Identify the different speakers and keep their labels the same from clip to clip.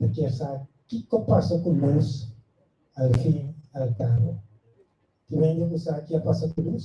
Speaker 1: ta kier sa kiko pasa ku lus al fin i al kabo. Tin hende ku sa ke a pasa ku lus?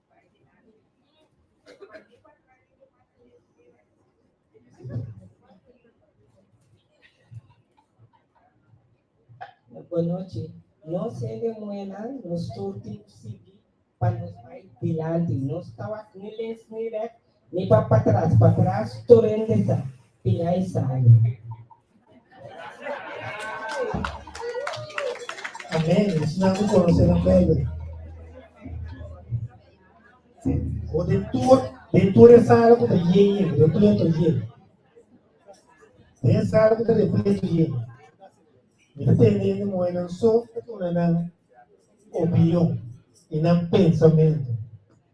Speaker 1: Bonochi, nos hende muenan nos tur tin sigui pa nos bai dilanti. Nos ta wak ni lens ni rèt, Mi pa patras patras tur hende sa pia e sali. Amen esnan cu conoce nan bebe. O de tur de tur e sala cu ta ye ye de tur to ye. De sala cu ta de tur to ye. Mi ta tende hende moe nan so ta tuna nan opinion y nan pensamento.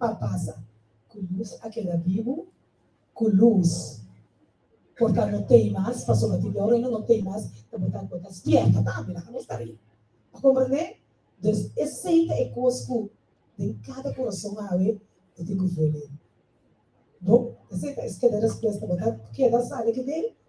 Speaker 1: a pasa ku lus a keda bibu ku lus por ta no t'ei mas pasobra tin dor ei no no t'ei mas ta bo ta bo ta spièrta tambe laga nos ta ri a komprendé dus esei ta e kos ku den kada kurason awe bo tin ku vuelve bo esei ta e skeda respuesta bo ta keda sabe kende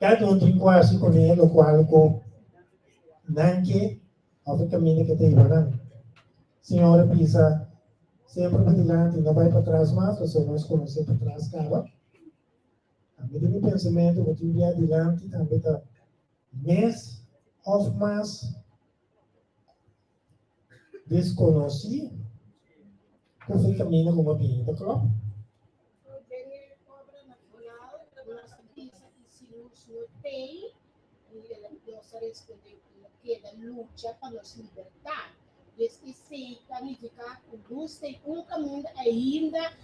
Speaker 1: Kat un trikuasi ku hei lokual ku nan ke òf e kaminda ke ta hiba nan. Siñor a bisa, Semper bai dilanti, no bai patras mas, pasobra nos konosé patras kaba. Ami den mi pensamentu bo tin bia dilanti tambe ta mes òf mas. Disconoci cu si camina como cliente club. Por benge cobra na final cu nos a bisa y si nos no tey y nos a responde cu no keda lucha pa nos libertad. Desde esey ta nifica cu nos tey un caminda ainda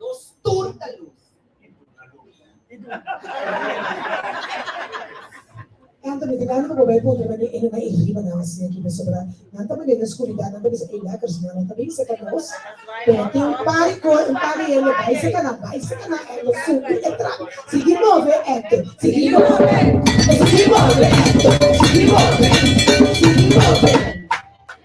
Speaker 1: Nos tur ta lus. E tur ta lus. E tur ta lus. Nan ta mete nan roba e ponta nan di ene na e riba nan a siña ki pasobra nan ta mane na skuridat nan ta bisa ey lekkers ma nan ta bin seka nos pero tin un par di cos un par di hende bai seka nan bai seka nan ey lo subi e trap sigui move eto sigui move sigui move eto sigui move sigui move.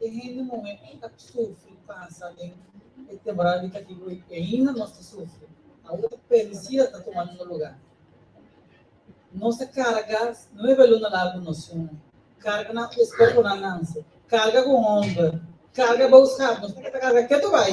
Speaker 1: e hende muhé ei a sufri pasa den e temporada di katibu ei, i ainda nos ta sufri. Awo ta permisido a ta tumando no lugá. Nos ta kargá nuebe luna largu nos shon, karga nan ku eskorponan nanse, karga ku hòmber, karga bou sap, nos ta ke ta karga ketu bai.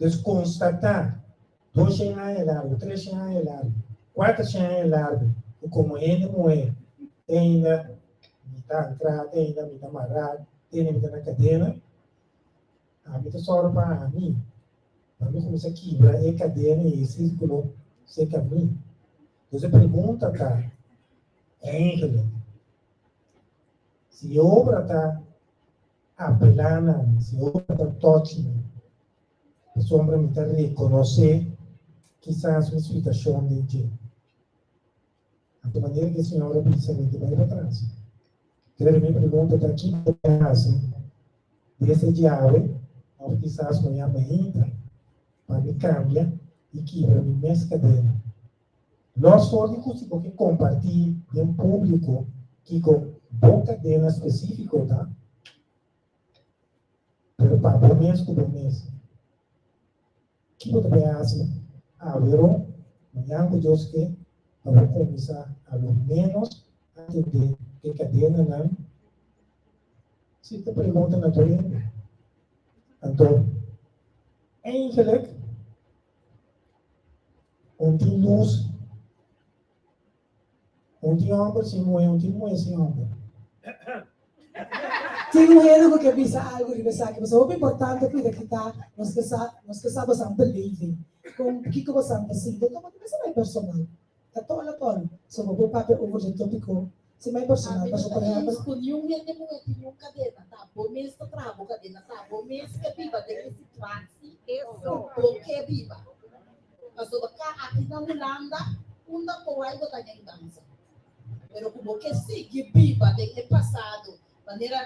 Speaker 1: Nos konstatá dos shen aña largu, tres shen aña largu, kuater shen aña largu ku komo hende muhé teinda mi ta antrá, teinda mi ta mará, teinda mi ta na kadena, ami ta sòru pa ami pa mi kuminsá kibra e kadena i e sírkulo se kamí. Entonces e pregunta ta, Èngelen, si e obra ta Apelanan, si Jehova ta tòchi mi, pasobra mi ta rekonosé kisas mi spitashon den dje. Anto manera ku e siñor a bisa mi di bai patras. Pero mi pregunta ta, Ki ta mi a hasi? Mi mester djawe òf kisas mañan mi a hinta pa mi kambia i kibra mi mes kadena? Nos for di kusi bo ke kompartí den públiko kiko bo kadena spesífiko ta, pero pa bo mes ku bo mes. Ki bo ta bin hasi awero, mañan ku Dios ke, pa bo kuminsá alo ménos atendé e kadenanan? Si ta pregunta naturende. Anto, eindelijk Un tin lus, un tin homber sin muhe, un tin muhe sin homber. Tin muhenan cu ke bisa algu riba esaki, bo sa hopi importante cuida ki ta nos ke sa, nos ke sa bosan believe, con kico bosan ta sinti, toma ta mester bay personal. Ta tolo kon so bo por papia over su topiko si mai personal paso por ehempel. Cu niun hende muhe tin niun cadena ta bo mes ta traha bo cadena sa bo mes ke biba den e situaci cu bo ke biba paso bo ka aki na Hulanda unda bo wai bo ta den danza pero cu bo ke sigui biba den e pasado Manera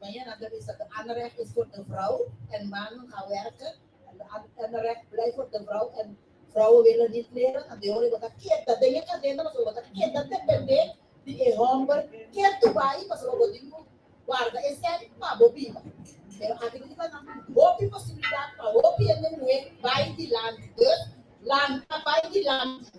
Speaker 1: Mañana a ta bisa cu Anderlecht is voor de vrouw en mannen gaan werken en Anderlecht blijft voor de vrouw en vrouwen willen niet leren a Deone bo ta keda den e cadena pasobra bo ta keda depende di e homber ke tu bai pasobra bo tin cu guarda esei pa bo biba. Pero aki tin kiba nan tin hopi posibilidad pa hopi hende muhe bai dilanti. Dus lanta bai dilanti.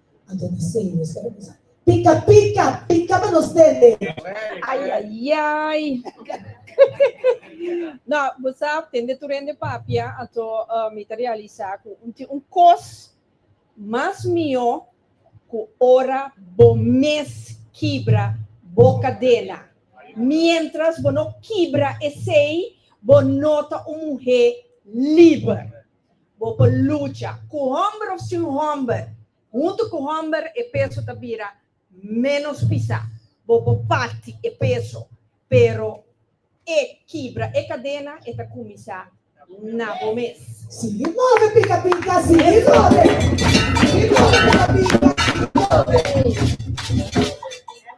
Speaker 1: Anto di sei nos ta reposa. Pica, pica, pica pa nos tende. Ay, ay, ay. no, bosa tende tu rende papia, anto uh, mi te realiza cu un, un cos mas mio cu ora bo mes kibra bo cadena. Mientras bo no kibra esei, bo nota un mujer liber. Bo por lucha cu homber of sin homber. Hunto cu homber e peso ta bira menos pisa. Bo por parti e peso, pero e kibra e cadena e ta cuminsa na bo mes. Sigui move pica pica, sigui move, sigui move pica pica, sigui move.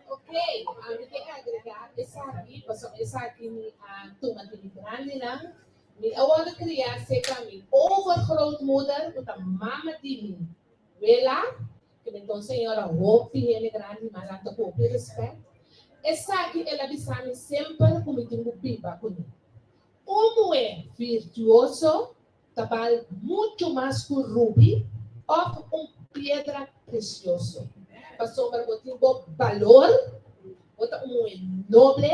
Speaker 1: Ok, mi ta agrega esaki pasobra esaki mi a tuma den mi grandenan. Mi a wòrdu kriá serka mi overgrootmoeder, ku ta mama di mi, Wela, ku mi ta un señora hopi hende grandi, mas anto ku hopi rèspèt. Esaki el a bisa mi semper ku mi tin ku biba kuné. Un muhé virtuoso ta bal muchu mas ku rubi òf un piedra presioso. Pasobra bo tin bo balor, bo ta un muhé noble.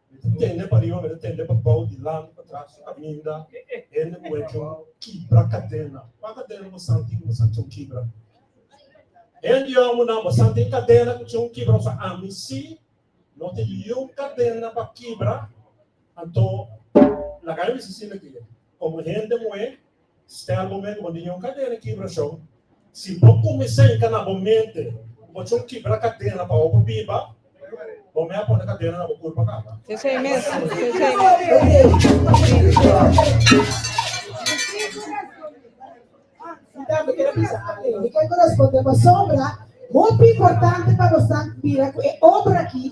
Speaker 1: Ku tende pariba mester tende pa bou, dilanti, patras, su kaminda. Hende ku hecho un kibra kadena. Kua kadena bo santi ku bo sa tin un kibra? Hende yo a munan, bo sa tin kadena ku tin un kibra? Bo sa, ami si, no tin niun kadena pa kibra. Anto, laga mi bisa asina ke, komo hende muhé, Stèlbo men bo niño un kadena kibrashon. Si bo kuminsá yega na bo mente ku bo chon kibra kadena pa hopi biba, bo mei a pone kadena na bo kurpa kaba. Mi bai ku responde pasobra hopi importante pa nos nan mira ku e obra akí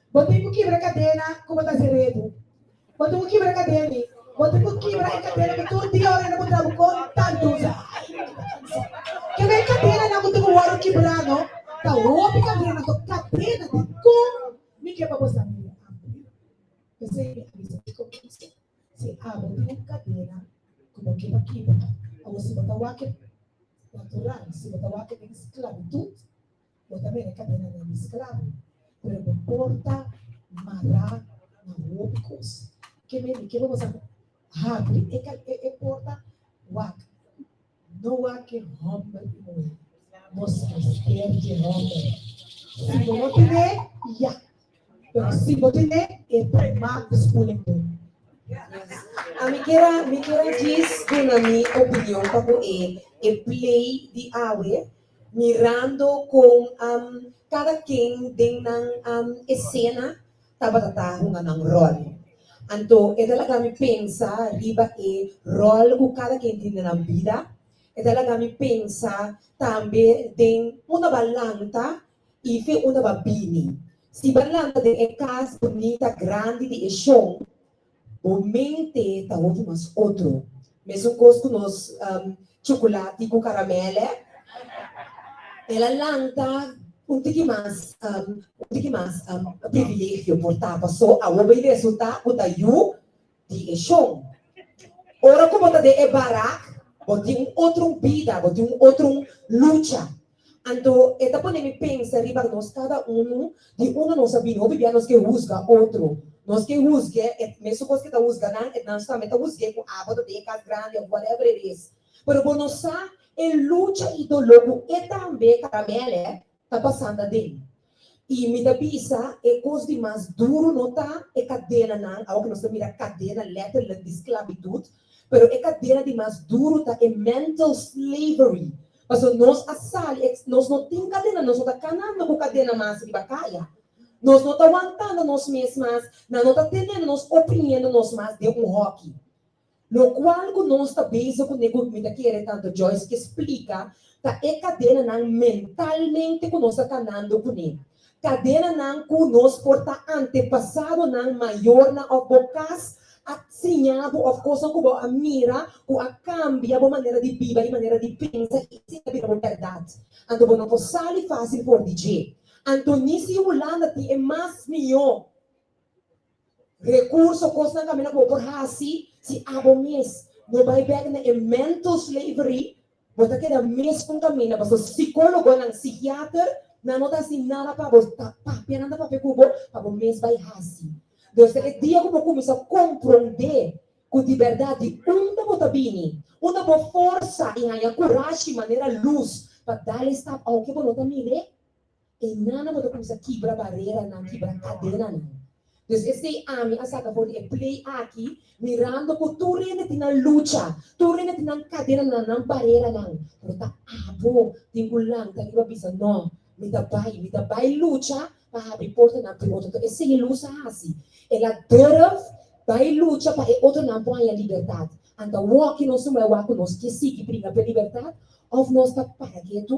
Speaker 1: Bo tin cu kibra cadena cu bo ta haci rebu. Bo tin cu kibra cadena y bo tin cu kibra e cadena cu tur dia ora nan bo traha bo conta luz a haña y bo ta cansa. Kebe e cadenanan cu tin cu worde kibra no? Ta hopi cadenanan to cadena di con mi keba bo sa mira abri. P'esey mi a bisa di comienso, si abo tin un cadena cu bo keba kibra, awor si bo ta wak e natural, si bo ta wak e den sclavitud, Bo ta bira e kadenanan di sklabo, pero bo por ta mará na hopi kos. Ke mende ke lo mester ku habri e porta wak? No wak e hòmber i muhé. Nos mester dje hòmber. Si bo no ten'é, ya Pero si bo tene e premaak di skuling bo. A mi kier a mi kier a djis duna mi opinion pa ku e e play di awe mirando kon am kada ken den nan am esena tabata ta hunga nan ròl. Anto e ta laga mi pensa riba e ròl ku kada ken tin den nan bida, e ta laga mi pensa tambe den un ta balanta i fe unda bo a bini. Si bo a lanta den e cas bunita grandi di e shon, bo mente ta hopi mas otro. Mesun cos cu nos chocolati cu caramel e. El a lanta un tiki mas un tiki mas privilegio por tapa. So, awor bay resulta cu ta yu di e shon. Ora ku bo ta den e barak, bo tin un otrun bida, bo tin un otrun lucha. Anto e ta pone mi pensa riba nos kada unu di unda nos a bini. Hopi bia nos ke husga otro. Nos ke husg'é e mesun kos ke ta husga nan, e nan tambe ta husg'é ku abo ta den e kas grandi òf whatever it is. Pero bo no sa e lucha i doló ku e tambe ta. Tambe alef, ta pasando aden. I mi ta bisa e kos di mas duru no ta e kadenanan, awo ku nos ta mira kadena letterlijk di sklabitut, pero e kadena di mas duru ta e mental slavery, pasobra nos a sali e, nos no tin kadena, nos no ta kanando ku kadena mas riba kaya, nos no ta wantando nos mes mas, nan no ta tenendo nos, oprimiendo nos mas den un hòki. Locual cu nos ta bezig cu Nego mi ta kere Tante Joyce ke splica ta e cadenanan mentalmente cu nos ta tanando cune. Cadenanan cu nos por ta antepasadonan mayornan of bo cas a siñabo of cosnan cu bo a mira cu a cambia bo manera di biba y manera di pensa y esey a bira bo berdad. Anto bo no por sali facil for di dje. Antonicio Hulanda tin e mas miyo. Recurso Cosnan Caminda Bo Por Haci Si Abo Mes No Bay Bek Na E Mental Slavery Bo Ta Keda Mes Con Caminda Paso Psicologonan, Psichiater, Nan No Ta Haci Nada Pa Bo Ta Papia Nan Ta Papia Cu Bo Pa Bo Mes Bay Haci Nos Ta E Dia Cu Bo Cuminsa Compronde Cu Di Berdad Di Unda Bo Ta Bini Unda Bo Forsa Y Haña Curashi Manera Luz Pa Dale Stap Aunke Bo No Ta Mir'e E nana bo ta kumsa kibra bareranan, kibra kadenanan. Dus esei ami a saka for di e play aki mirando ku tur hende tin nan lucha, tur hende tin nan kadenanan, nan bareranan, pero ta abo tin ku lanta riba bisa, No, mi ta bai, mi ta bai lucha pa habri portanan pa e otronan. Esei e lus a hasi. El a durf bai lucha pa e otronan por haña libertat. Anta wòkino suma e wak ku nos ke sigui pringa p'e libertat òf nos ta para ketu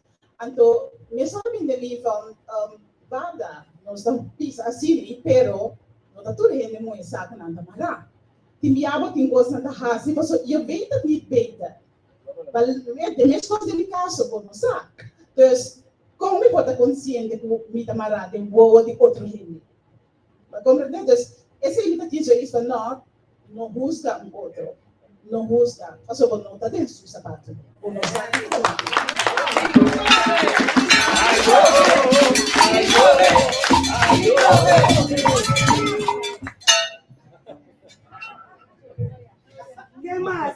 Speaker 1: Anto mesun ta bin den mi van banda nos ta pisa asili pero no ta tur hende moe sa ku nan ta mara. Tin bia bo tin kos nan ta hasi paso yo beter nit beter bal met den mes kos den mi kaso bo no sa. Dus kon mi por ta konsiente ku mi ta mara den wowo di otro hende? Ta comprende? Dus, esei mi ta kisa e bisa, No, no husga un otro. No husga, pasobra no ta den su sapatu. Bo no sa ki ta mala. Ke mas?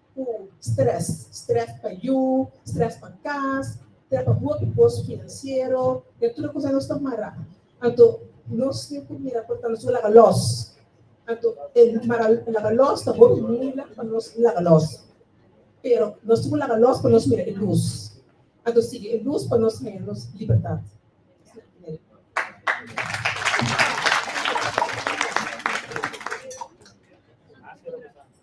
Speaker 1: ku strès. Strès pa yu, strès pa kas, strès pa hopi kos finansiero, i e tur e kusnan nos ta mara. Anto nos tin ku mira ku nos lo laga lòs. Anto e mara laga lòs ta hopi muilan pa nos laga lòs. Pero nos tin ku laga lòs pa nos mira e lus. Anto sigui e lus pa nos haña nos libertat.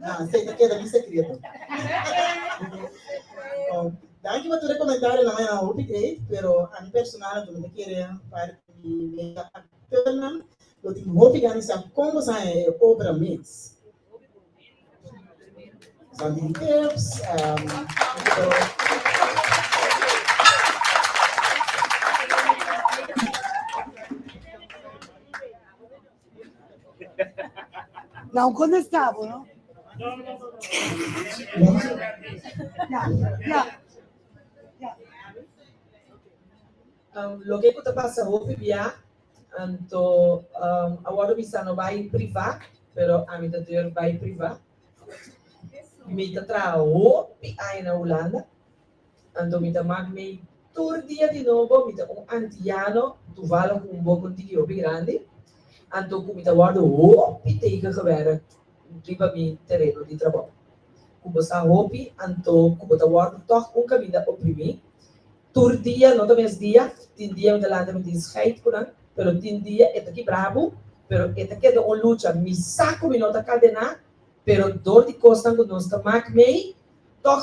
Speaker 1: Na, esei ta keda mi sekreto. Oh, danki pa tur e komentario nan, a hopi great, pero a mi personal anto mi ta kere parti di mega aktènan lo tin hopi gana sa kon bo sabe e obra mes. Sa di tips, um, pero Nou kon es ta bo no. Ya, ya. Ya. Um, loke ku ta pasa hopi bia, anto um, awor mi sa no bai priva, pero ami ta deur bai priva. Mi ta traha hopi aña na Hulanda. Anto mi ta mak mei tur dia di nobo, mi ta un antiano, tuvalo ku un boko tiki hopi grandi, anto ku mi ta wòrdu hopi teken gewèrrè riba mi tereno di trabou. Ku bo sa hopi, anto ku bo ta wòrdu tòg un kaminda oprimí. Tur dia no ta mesdia, tin dia mi ta lanta mi tin scheid ku nan, pero tin dia e ta kibrá bo, pero e ta keda un lucha. Mi sa ku mi no ta kadená, pero dor di kosnan ku nos ta mak mei, tòg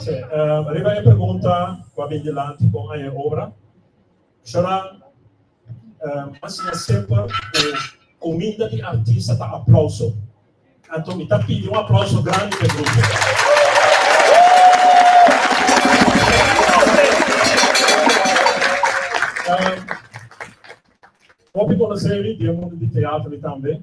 Speaker 1: Oké, uh, riba e pregunta cu a bin dilanti con aña obra, Shoran, uh, mas na sepa cu comida di artista ta aplauso. Anto mi ta pidi un aplauso grande pe grupo. Uh, Hopi conocevi, die mundo di teatro tambe.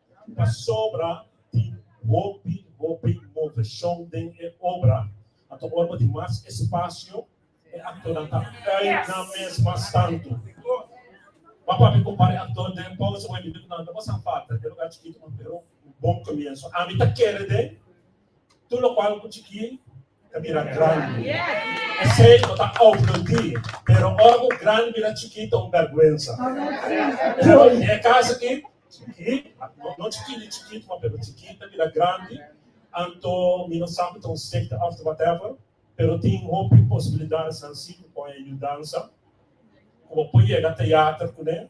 Speaker 1: Pasobra tin hopi, hopi moveshon den e obra. Anto ora bo tin mas espasio, e aktornan ta kai nan mes mas tantu. Bo a papia ku un par di aktor den Paus bo a mira ku nan ta pasá falta den e lugá chikitu, pero un bon komienso. Ami ta kere den tur lokual ku chikí. ta bira grandi. Esei no ta obludí, pero ora ku un grandi bira chikí ta un bèrgwensa. Pero i e kas aki, chikí, no chikí ni chikitu, ma pero chikí ta bira grandi, anto mi no sa ku ta un sekta òf ta whatever, pero tin hopi posibilidatnan sí ku kon e yudansa, ku bo por yega ta yater kuné.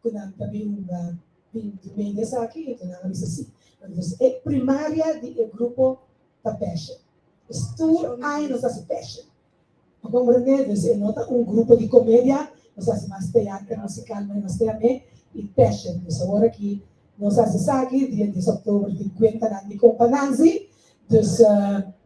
Speaker 1: ku nan ta bin hunga di di mei di esaki? Enton nan a bisa sí. Entonces e primaria di e grupo ta passion. Es tur aña nos ta hasi passion. Bo komprendé? Entonces e no ta un grupo di komedia, nos hasi mas teater musikal, me nos keda me i passion. Entonces awor aki nos hasi esaki dia dies òktober tin kuenta nan di kompa Nanzi, dus.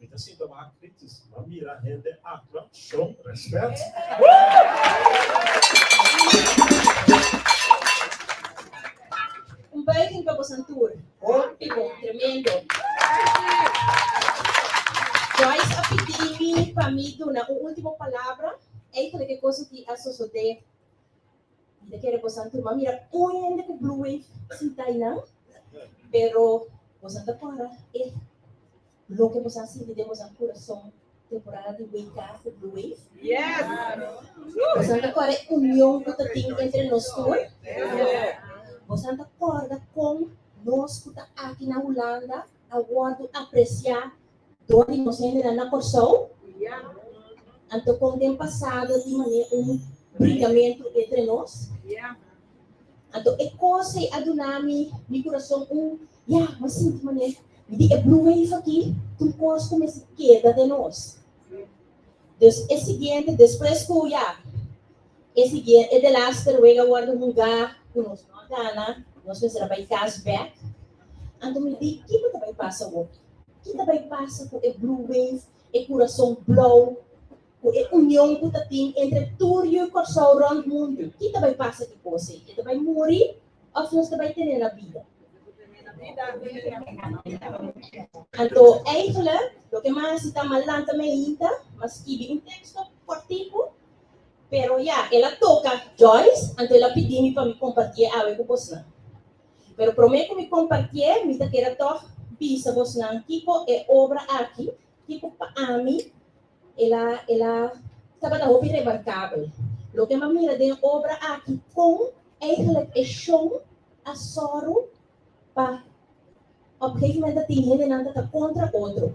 Speaker 1: Mi ta sinta baha kritis. Ma mira hende aktua shon rèspèt. Un buiging pa bosan tur. Óptimo. Tremendo. Joyce a pidi mi pa mi duna un último palabra. Ey ta loke kos aki a sosodé. Mita kere boso a tuma mira un hende ku Blue Wave sintá einan, pero boso a ta para e loke boso a sinti den boso kurason temporada di WK ku Blue Wave? Boso a ta para e union ku ta tin entre nos tur? Boso a ta kòrda kon nos ku ta aki na Hulanda a wòrdu apresiá Dor di nos hendenan na Kòrsou. Anto kon den pasado tin manera un brigamentu entre nos. Anto e kos ei a duna mi mi kurason un ya mi sinti manera di e blue wave aki tur kos ku mester keda den nos. Dus e siguiente, despues ku ya e siguiente, e de laatste ruega a wòrdu hugá ku nos no a gana, nos mester a bai kas bèk. Anto mi di, Kico ta bai pasa hopi? Ki ta bai pasa ku e Blue Wave, e kurason blou, ku e union ku ta tin entre tur yu Kòrsou rònt mundu? Ki ta bai pasa ki kos ei? E ta bai muri? òf nos ta bai tene la bida? Anto, Enkele, loke m'a hasi ta m'a lanta meinta, m'a skibi un teksto kòrtiku, pero ya, el a toka Joyce, anto el a pidi mi pa mi kompartié awe ku bosnan. Pero promé ku mi kompartié, mi ta kere tòg bisa bosnan kiko e obra aki Ki ku pa ami el a el a tabata hopi remarkabel, lo ke mi a mira den e obra aki kon eigelijk e shon a sòru pa òp geken moment a tin hendenan ta ta kontra otro.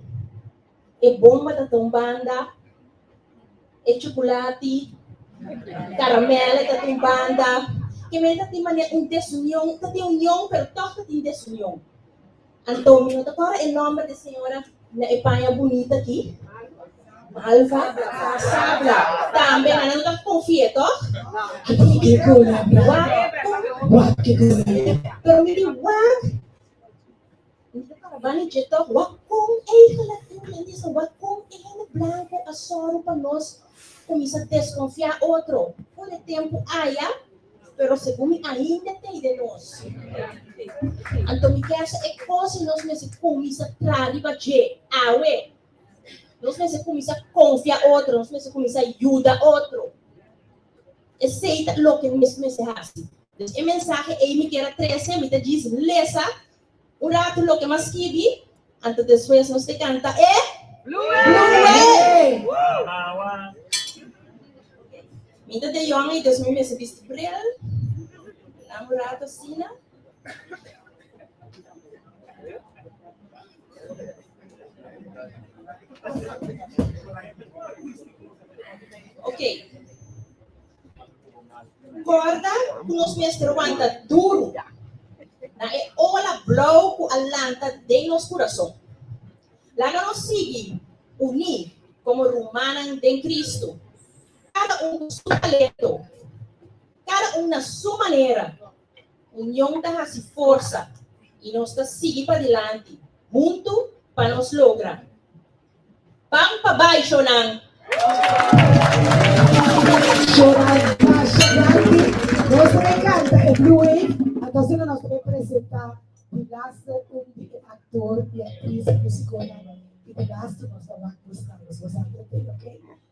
Speaker 1: E bomba ta ta un banda, e chukulati, karamèl ta ta un banda, ke mester tin mane un desunion, ta tin union pero tòg ta tin desunion. Antonio no ta kòrda e nòmber di e señora na e paña bunita aki? Malva Casabla. Tambe nan no ta konfi'é, tòg? Aki ke gola wak ku wak ke gola e. Pero mi di wak. Mi ta kòrda bani dje tòg, wak kon eigelik tin den disa, wak kon e hende blanku a sòru pa nos. Kuminsá deskonfiá otro. For e tempu aya, pero segun mi ainda t'ei den nos. Anto mi kèsa e kos nos mester kuminsá traha riba dje awe. Nos mester kuminsá konfia otro, nos mester kuminsá yuda otro. Esei ta loke nos mester hasi. Entonces e mensahe ei mi kier a trese, mi ta djis lesa Un ratu loke mas skibi anto despues nos te kanta e Mi ta den yonga y despues mi mester bisti bril nan un ratu asina. Ok. Corda cu nos mester wanta duru na e ola blauw cu a lanta den nos curason. Laga nos sigui uní como rumannan den Cristo, cada un cu su talento, cada un na su manera. Union ta haci forsa y nos ta sigui padilanti huntu pa nos logra. Ban pa bai shonan. Shonan Dasha Grandi. Nos ta bay canta e Blue Wave, antocenos nos ta bay presenta di laster un di e actor y actriz musiconan y di laster nos ta wak buscalos. Nos a entreten, ok.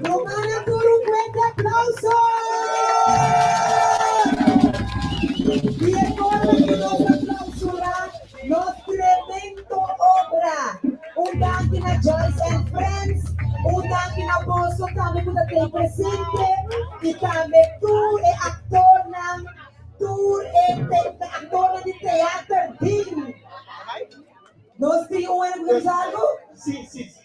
Speaker 1: Nos manda tur un fuerte aplauso di e forma cu nos ta clausura nos tremendo obra. Un danki na Joyce and Friends, un danki na boso tambe cu ta den presente y tambe tur e actornan, tur e actornan di Theater Ding. Nos tin un hora cu ta bisa algo?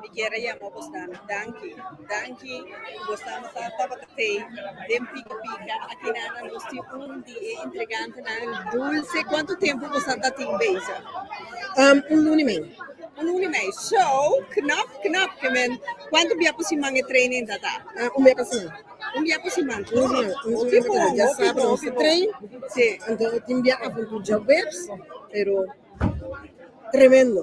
Speaker 1: Mi kier yama bos dami danki, danki ku bos ta masa tabata te den Pika Pika. Aki nan nos tin un di e intrigantenan dulce. Kuantu tempu bos a ta tin beza? Un luna i mei. Un luna i mei, so knap knap. Kuantu bia pa siman e training ta ta? Un bia pa siman. Un bia pa siman. Hopi bon, hopi bon, hopi bon. Si. Tin bia avuntu djaweps, pero tremendo.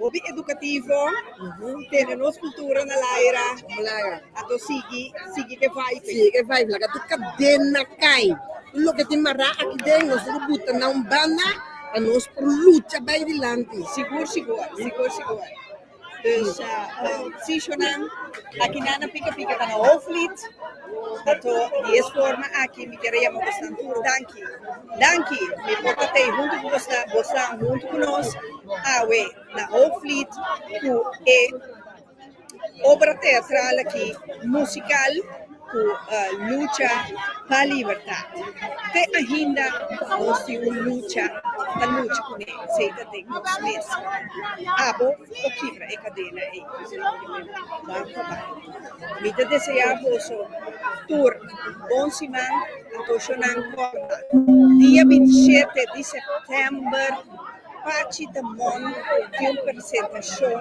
Speaker 1: Hopi edukativo tene nos kultura na laira a to sigui sigui ke vibe e. Sigui ke vibe laga tur kadena kai tur loke tin mará aki den nos tin ku buta na un banda pa nos por lucha bai dilanti. Sigur sigur sigur sigur dus sishonan aki nan na pika pika ta na Hoofdlied ato di es forma aki mi kere yama bosnan tur danki danki mi por ta tei huntu ku bosnan bosnan huntu ku nos. Awe na Hoofdvliet ku e obra teatral aki musikal ku lucha pa libertat. Te ainda nos tin un lucha ta lucha kuné, sei ta den nos mes. Abo por kibra e kadena ei. Bam pa bai. Mi ta deseá boso tur bon siman, antoshonancorda, dia binti i shete di sèptèmber. Pachi ta mon di un persentashon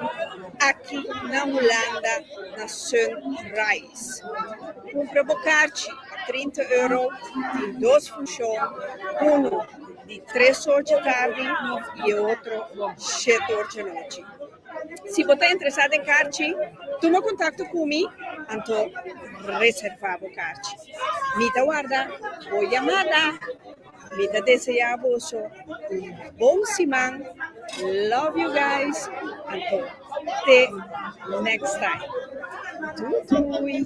Speaker 1: aki na Hulanda na Sunrise. Kumpra bo karchi pa trinta euro, tin dos funshon, unu di tres or dje tardi i e otro shet or dje nochi. Si bo ta interesá den karchi, tuma kontakto ku mi, anto reservá bo karchi. Mi ta warda bo yamada. Mi ta desea boso un bon siman love you guys anto te next time doei doei.